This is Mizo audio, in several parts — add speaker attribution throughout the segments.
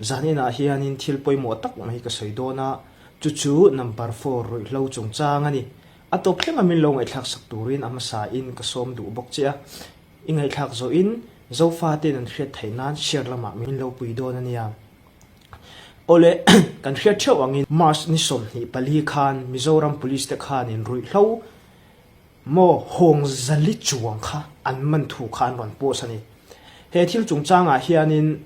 Speaker 1: Zaninah hianin thil pawimawh tak mai ka sawi dawn a, chu chu number four ruihhlo chung chang a ni. A tawp thleng a min lo ngaihthlaksak turin a hmasa in ka sawm duh bawk che a. I ngaihthlak zawh in Zofa ten an hriat theih nan share lamah min lo pui dawn a nia. Awle kan hriat theuh ang in March ni sawmhnih pali khan Mizoram Police te khanin ruihhlo maw hawng zali chuang kha an man thu kha an rawn post a ni. He thil chung changah hianin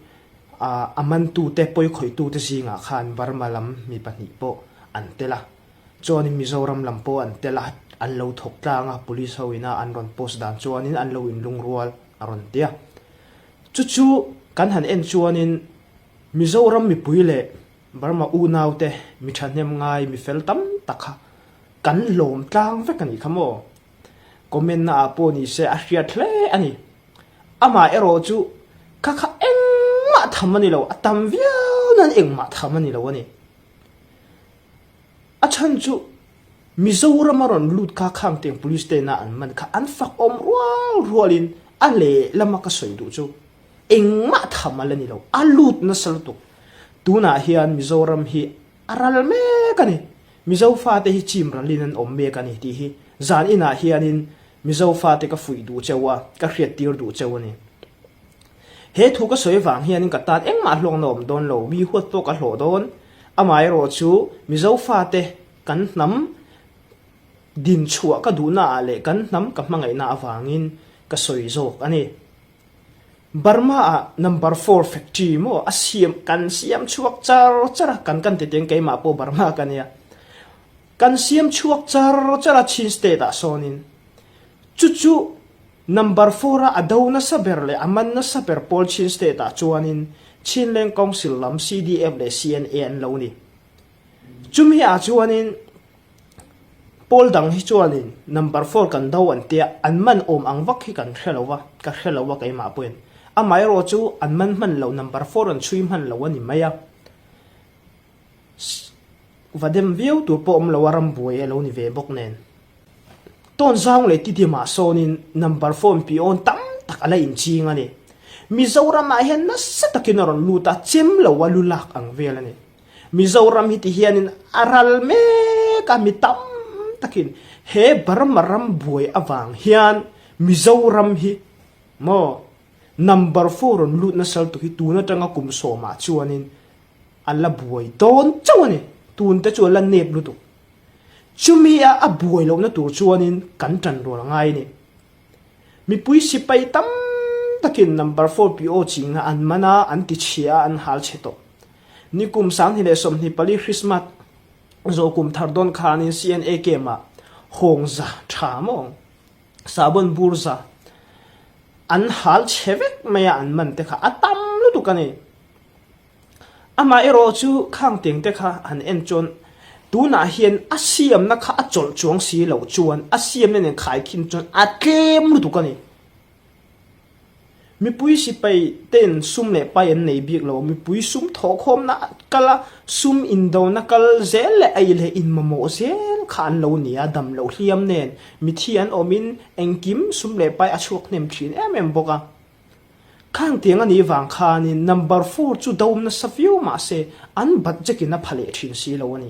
Speaker 1: A a mantute pawi khawitute zingah khan Burma lam mi pahnih pawh an tel a, chuanin Mizoram lam pawh an tel a, an lo thawk tlang a, police ho inah an rawn post dan chuanin an lo inlungrual a rawn ti a. Chu chu kan han en chuanin Mizoram mipui leh Burma unaute mi thahnem ngai mi fel tam tak kha kan lawm tlang vek a nih kha maw? comment na ah pawh ni se a hriat hle a ni amah erawh chu kha kha engmah tham a ni lo a tam viau nan engmah tham a ni lo a ni a chhan chu Mizoram a rawn lut kha khang teng police te na an man kha an fak awm rual rual in a leh lama ka sawi duh chu engmah tham a la ni lo a lut nasa lutuk tunah hian Mizoram hi A ral mek a ni. Mizo fate hi chimralin an awm mek a ni tih hi zan inah hianin Mizo fate ka fuih duh cheu a, ka hriattir duh cheu a ni. He thu ka sawi vang hianin ka tan engmah hluang na awm dawn lo, mi huat pawh ka hlawh dawn. Amaherawh chu Mizo fate kan hnam din chhuah ka duhnaah leh kan hnam ka hmangaihna avangin ka sawi zawk a ni. Burma ah number four factory emaw a siam kan siam chhuak char char a kan kan ti teng keimah pawh Burma ka nia kan siam chhuak char char a Chin state ah sawnin chu chu number four a a do nasa ber leh a man nasa ber pawl Chin state ah chuanin Chinland council lam CDF leh CNA an lo ni chumi ah chuanin Pawl dang hi chuanin number four kan do an tia an man awm ang vak hi kan hre lo va, ka hre lo a keimah pawhin. Amaherawh chu an man hman lo number four an chhui hman lo a ni mai a. Va dem viau tur pawh awm lo a ram buai a lo ni ve bawk nen. Tawnzau leh Titimah sawnin number four-in pihawn tam tak a la inching a ni. Mizoramah hian nasa takin a rawn lut a, chem lo a lu lak ang vel a ni. Mizoram hi ti hianin a ral mek a, mi tam takin he Burma ram buai avang hian Mizoram hi maw number four rawn lut na saltu hi tun atanga kum sawmah chuanin a la buai dawn chauh a ni, tun te chu a la nep lutuk. Chumi a a buai lohna tur chuanin kan tan rual ngai a ni. Mipui sipai tam takin number four piaw chingah an man a, an tichhia a, an hal chhe tawh. Ni kum sanghni leh sawmhni pali Christmas zawh kum thar dawn khanin CNA camp ah hawng za tha mawng, sahbawn bur za an hal chhe vek mai a an man te kha a tam lutuk a ni. Amah erawh chu khang tengte kha han en chuan tunah hian a siamna kha a chawlh chuang si loh chuan a siamna nen khaikhin chuan a tlem lutuk a ni. Mipui sipai ten sum leh pai an nei bik lo, mipui sum thawhkhawmna a kal a, sum indona kal zel leh aih leh inmamawh zel kha an lo ni a, damlo hliam nen mithi an awmin engkim sum leh pai a chhuak hnem thin em em bawk a. Khang tiang a nih vang khanin number four chu dawm nasa viau mah se an bat jack in a pha leh thin si lo a ni.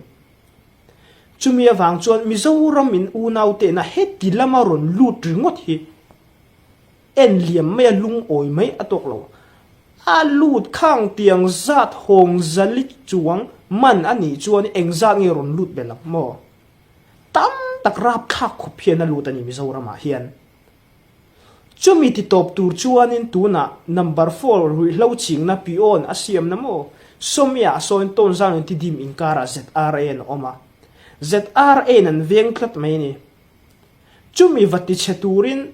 Speaker 1: Chumi avang chuan Mizoram in unau te na he ti lam a rawn lut ringawt hi en liam mai a lungawi mai a tawk lo. A lut khang tiang zat hawng zali chuang man a nih chuan eng zat nge rawn lut be lo maw? Tam tak rap thlak khawp hian a lut a ni Mizoram ah hian. Chumi titawp tur chuanin tunah number four ruihhlo chingna piawn a siamna maw? Sawmyah sawn tawnzau ni ti dim inkarah ZRAN a awm a, ZRAN an veng tlat mai ni. Chumi va tichhe turin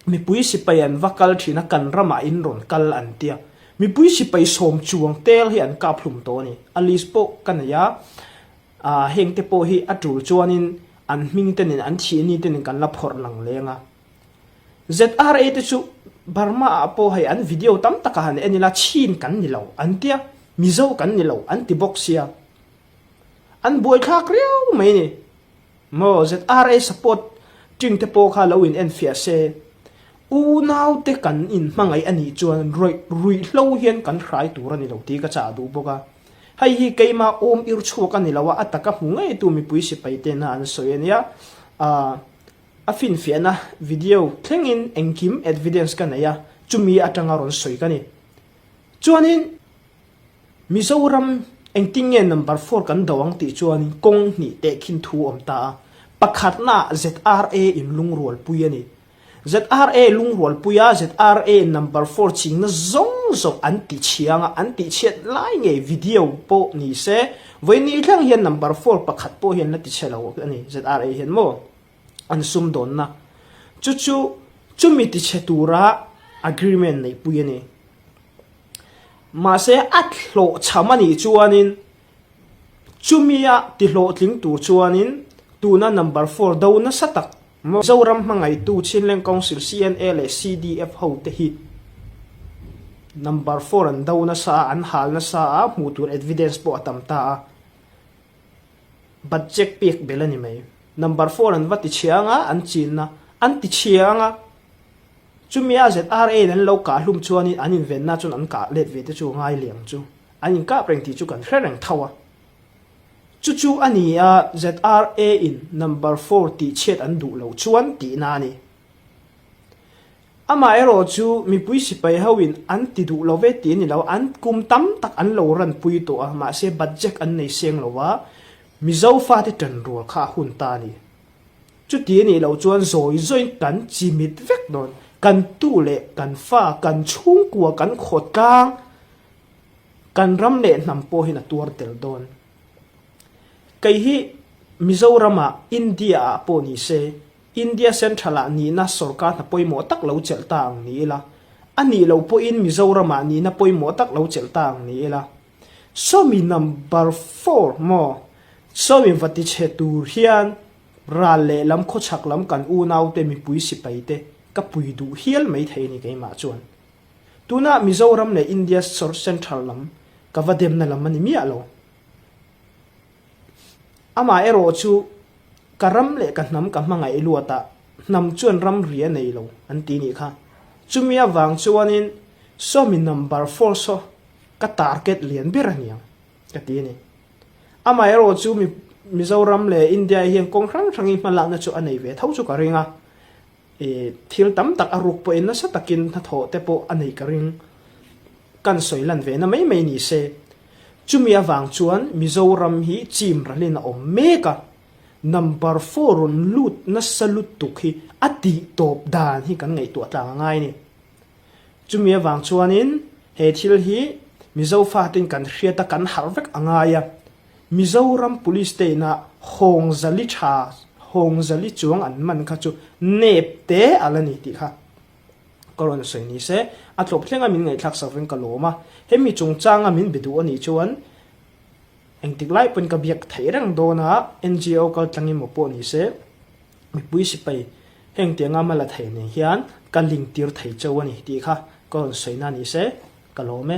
Speaker 1: mipui sipai an va kal thin a, kan ramah in rawn kal an tia. Mipui sipai sawm chuang tel hi an kaphlum tawh a ni. Alice pawh ka nei a, A heng te pawh hi a tul chuanin an hming te nen an thih ni te nen kan la phawrh lang leng a. ZRA te chu Burma ah pawh hei an video tam taka han en ila Chin kan ni lo an tia, Mizo kan ni lo an ti bawk sia. An buaithlak riau mai ni. Maw ZRA support ṭing te pawh kha lo in en fiah se. Unau te kan in hmangaih a nih chuan ruihhlo hian kan hrai tur a ni lo tih ka chah a duh bawk a. Hei hi keima awm ir chhuak a ni lo a, a taka hmu ngeitu mipui sipai te na an sawi a nia. Aah, a finfiahna video thlengin engkim evidence ka nei a, chumi atanga rawn sawi ka ni. Chuanin Mizoram engtin nge number four kan do ang tih chuanin kawng hnih teh khin thu awm ta a, pakhatna ZRA in lungrualpui a ni. ZRA Lungrualpuia ZRA number four chingna zawng zawh an tih chiang a, an tih chhiat lai ngei video pawh ni se vawi ni thleng hian number four pakhat pawh hian la ti chhe lo a ni ZRA hian maw an sum dawn na chu chu chumi ti chhe tura agreement nei pui a ni mahse a hlawh chham a nih chuanin chumia ti hlawhtling tur chuanin tuna number four do nasa tak Mizoram hmangaitu Chinland Council, CNA, leh CDF ho te hi number phone an do nasa a, an hal nasa a, hmuh tur evidence pawh a tam ta a. But check pek bel a ni mai. Number phone an va ti chhia anga an chin na, an ti chhia anga chumia ZRA in an lo kah hlum chuan in an invenna chuan an kah let ve te chu a ngai liang chu. An inkap reng tih chu kan hre reng tho a. Chu chu a ni a, ZRA-in number four tih chhiat an duh lo chuan tihna a ni. Amaherawh chu mipui sipai hoin an ti duh love tih a ni lo a, an kum tam tak an lo ranpui tawh a, mahse bat jack an nei seng lo a, Mizo fate tan rual kha a hun ta a ni. Chuti a nih loh chuan zawi zawin kan chimit vek dawn, kan tu leh kan fa, kan chhungkua kan khawtlang, Kan ram leh hnam pawhin a tuar tel dawn. Kei hi Mizoramah India-ah pawh ni se, India Central-ah nihna sorkarhna pawimawh tak lo chelh ta ang ni ila, a nih loh pawhin Mizoramah nihna pawimawh tak lo chelh ta ang ni ila. Sawmi number four maw? Sawmi va ti che tur hian ral leh lam khawchhak lam kan unaute mipui sipaite ka pui duh hial mai thei a ni keimah chuan. Tunah Mizoram leh India Sor Central lam ka va demna lam a ni miah lo. Amaherawh chu ka ram leh ka hnam ka hmangaih luat a, hnam chuan ram ri a nei lo, an ti nih kha. Chumi avang chuanin saw mi number four saw ka target lian ber a niang, ka ti a ni. Amaherawh chu mi Mizoram leh India-i hian kawng hrang hrangin hma lakna chu a nei ve tho chu ka ring a. I thil tam tak a ruk pawhin nasa takin hnathawh te pawh a neih ka ring. Kan sawi lan ve na mai mai ni se. Chumi avang chuan Mizoram hi chim ralin a awm mek a. Number four rawn lut nasa lutuk hi a tih tawp dan hi kan ngaihtuah tlang a ngai ni. Chumi avang chuanin he thil hi Mizo fatin kan hriat a kan harh vek a ngai a. Mizoram police state-a Hawng Zali tha, Hawng Zali chuang an man kha chu nep te a la ni tih kha ka rawn sawi ni se, a tlawp thlenga min ngaihthlak sak reng ka lawm a, hemi chungchanga min be duh a nih chuan engtik lai pawhin ka biak theih reng dawn a, NGO kal tlangi maw pawh ni se, mipui sipai heng tianga a hma la thei nen hian ka ling tir thei chauh a ni tih kha ka rawn sawi na ni se ka lawm e.